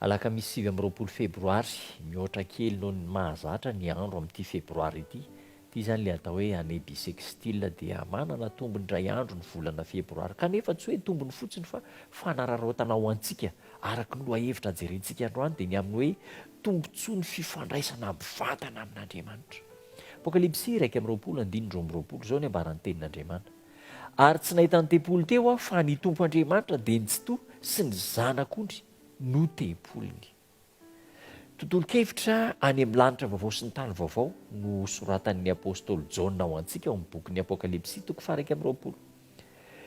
Alakamisy sivy amby roapolo febroary, mihoatra kely noho ny mahazatra ny andro amin'ity febroary ity. Ity izany ilay atao hoe année bissextile dia manana tombony iray andro ny volana febroary kanefa tsy hoe tombony fotsiny fa fanararaotana ho antsika araka ny lohahevitra jerentsika androany dia ny amin'ny hoe tombontsoa ny fifandraisana mivantana amin'Andriamanitra. Apokalypsy iraika amby roapolo andininy roa amby roapolo, izao ny ambaran'ny tenin'Andriamanitra. Ary tsy nahita ny tempoly teo aho, fa ny Tompo Andriamanitra dia ny Tsitoha sy ny Zanako ondry no tempoliny. Tontolon-kevitra any amin'ny lanitra vaovao sy ny tany vaovao no soratan'ny apostoly Jaona ho antsika ao amin'ny bokin'ny Apokalypsy toko faha iraika amby roapolo.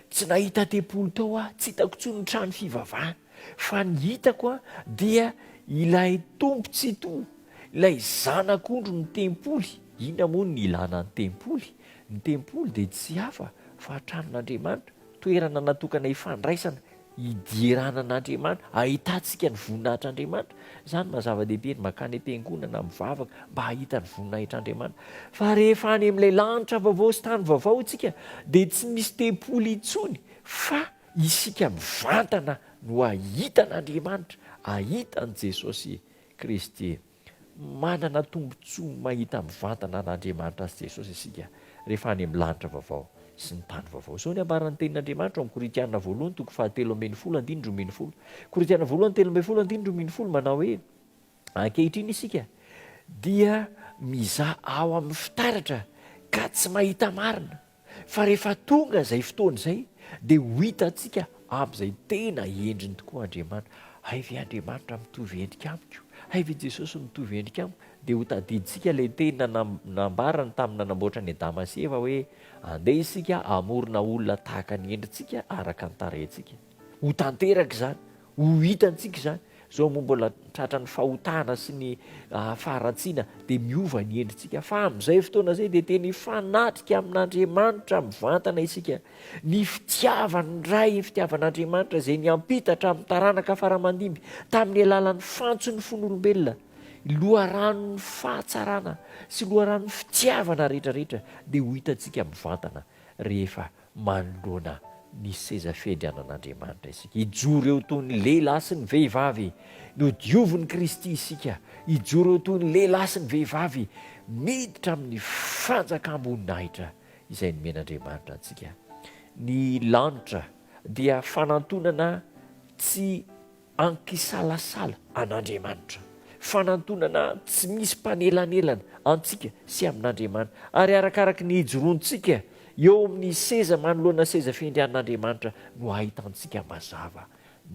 Tsy nahita tempoly tao aho, tsy hitako intsony ny trano fivavahana. Fa ny hitako an, dia ilay tompon-tsitoha, ilay zanak'ondry ny tempoly. Inona moa no ilana ny tempoly? Ny tempoly dia tsy hafa fa tranon'Andriamanitra, toerana natokana hifandraisana, hidierana an'Andriamanitra, hahitantsika ny voninahitr'Andriamanitra. Izany maha zava-dehibe ny mankany am-piangonana, mivavaka mba hahita ny voninahitr'Andriamanitra. Fa rehefa any amin'ilay lanitra vaovao sy tany vaovao isika, dia tsy misy tempoly intsony fa Isika mivantana no hahita an'Andriamanitra, hahita an'i Jesosy Kristy. Manana tombontsoa mahita mivantana an'Andriamanitra sy Jesosy isika rehefa any amin'ny lanitra vaovao sy ny tany vaovao. Izao ny ambaran'ny Tenin'Andriamanitra ao amin'ny Korintiana voalohany toko fahatelo ambin'ny folo andininy roa ambin'ny folo. Korintiana voalohany telo ambin'ny folo andininy roa ambin'ny folo manao hoe, Ankehitriny isika dia mizaha ao amin'ny fitaratra ka tsy mahita marina. Fa rehefa tonga izay fotoana izay dia ho hitantsika amin'izay tena endriny tokoa Andriamanitra. Hay ve Andriamanitra mitovy endrika amiko? Hay ve Jesosy mitovy endrika amiko? Dia ho tadidintsika ilay teny nambarany tamin'ny nanamboatra an'i Adama sy Eva hoe, Andeha isika hamorona olona tahaka ny endrintsika, araka ny tarehintsika. Ho tanteraka izany, ho hitantsika izany. Izao moa mbola tratran'ny fahotana sy ny faharatsiana dia miova ny endritsika. Fa amin'izay fotoana izay dia tena hifanatrika amin'Andriamanitra mivantana isika. Ny fitiavan'ny Ray, ny fitiavan'Andriamanitra izay niampita hatramin'ny taranaka fara-mandimby tamin'ny alalan'ny fantson'ny fon'olombelona, loharanon'ny fahatsarana sy loharanon'ny fitiavana rehetra rehetra dia ho hitantsika mivantana rehefa manoloana ny seza fiandrianan'Andriamanitra isika. Hijoro eo toy ny lehilahy sy ny vehivavy nodiovin'i Kristy isika. Hijoro eo toy ny lehilahy sy ny vehivavy miditra amin'ny fanjakam-boninahitra izay nomen'Andriamanitra antsika. Ny lanitra dia fanantonana tsy Ankisalasala an'Andriamanitra. Fanantonana tsy misy mpanelanelana antsika sy amin'Andriamanitra, ary arakaraky ny ijoroantsika eo amin'ny seza manoloana seza fiandrianan'Andriamanitra no ahitantsika mazava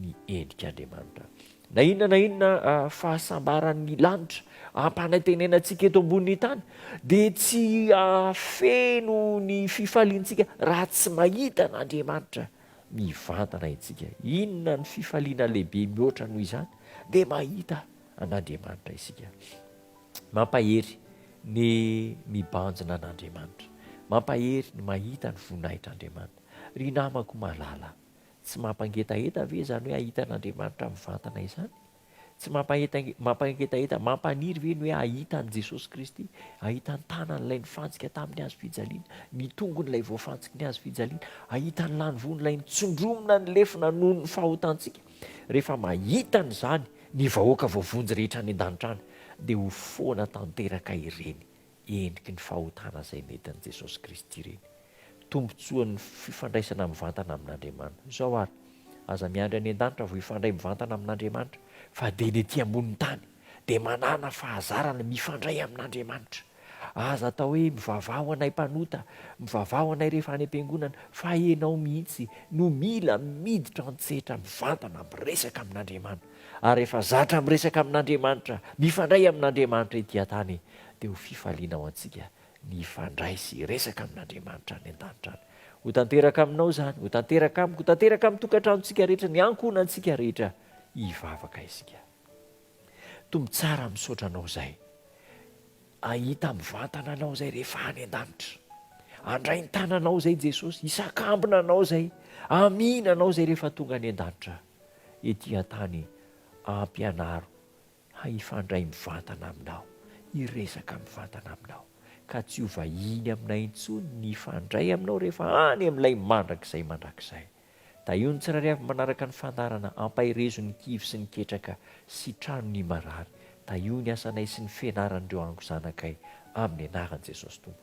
ny endrik'Andriamanitra. Na inona na inona fahasambaran'ny lanitra ampanantenantsika eto ambonin'ny tany dia tsy hahafeno ny fifaliantsika raha tsy mahita an'Andriamanitra mivantana isika. Inona no fifaliana lehibe mihoatra noho izany? Dia mahita an'Andriamanitra isika. Mampahery ny mibanjina an'Andriamanitra. Mampahery ny mahita ny voninahitr'Andriamanitra. Ry namako malala, tsy mampangetaheta ve izany hoe hahita an'Andriamanitra mivantana izany? Tsy mampahetange- mampangetaheta, mampaniry ve ny hoe hahita an'i Jesosy Kristy, hahita ny tanan'ilay nifantsika tamin'ny hazo fijaliana, ny tongon'ilay voafantsiky ny hazo fijaliana, hahita ny lanivon'ilay nitsondromina ny lefona noho ny fahotantsika? Rehefa mahita an'izany ny vahoaka voavonjy rehetra any an-danitra any, dia ho foana tanteraka ireny endriky ny fahotana izay nentin'i Jesosy Kristy ireny tombontsoan'ny fifandraisana mivantana amin'Andriamanitra. Izao àry, aza miandry any an-danitra vao hifandray mivantana amin'Andriamanitra, fa dia ny etỳ ambonin'ny tany dia manàna fahazarana mifandray amin'Andriamanitra. Aza atao hoe, Mivavaha ho anay mpanota, mivavaha ho anay rehefa any am-piangonana, fa ianao mihitsy no mila miditra an-tsehatra mivantana miresaka amin'Andriamanitra. ary rehefa zatra miresaka amin'Andriamanitra, mifandray amin'Andriamanitra ety an-tany, dia ho fifaliana ho antsika ny hifandray sy hiresaka amin'Andriamanitra any an-danitra any. Ho tanteraka aminao izany, ho tanteraka amiko, ho tanteraka amin'ny tokantranontsika rehetra, ny ankohonantsika rehetra, hivavaka isika. Tompo tsara, misaotra Anao izay ahita mivantana Anao izay rehefa any an-danitra. Andray ny tananao izay Jesosy, hisakambina Anao izay, hamihina Anao izay rehefa tonga any an-danitra. ety an-tany hampianaro hifandray mivantana aminao, hiresaka mivantana aminao, ka tsy ho vahiny aminay intsony ny hifandray aminao rehefa any amin'ilay mandrakizay mandrakizay. Tahio ny tsirairay avy manaraka ny fandaharana Ampaherezo ny kivy sy ny ketraka sy trano ny marary. Tahio ny asanay sy ny fianaran'ireo angozanakay amin'ny anaran'i Jesosy Tompo.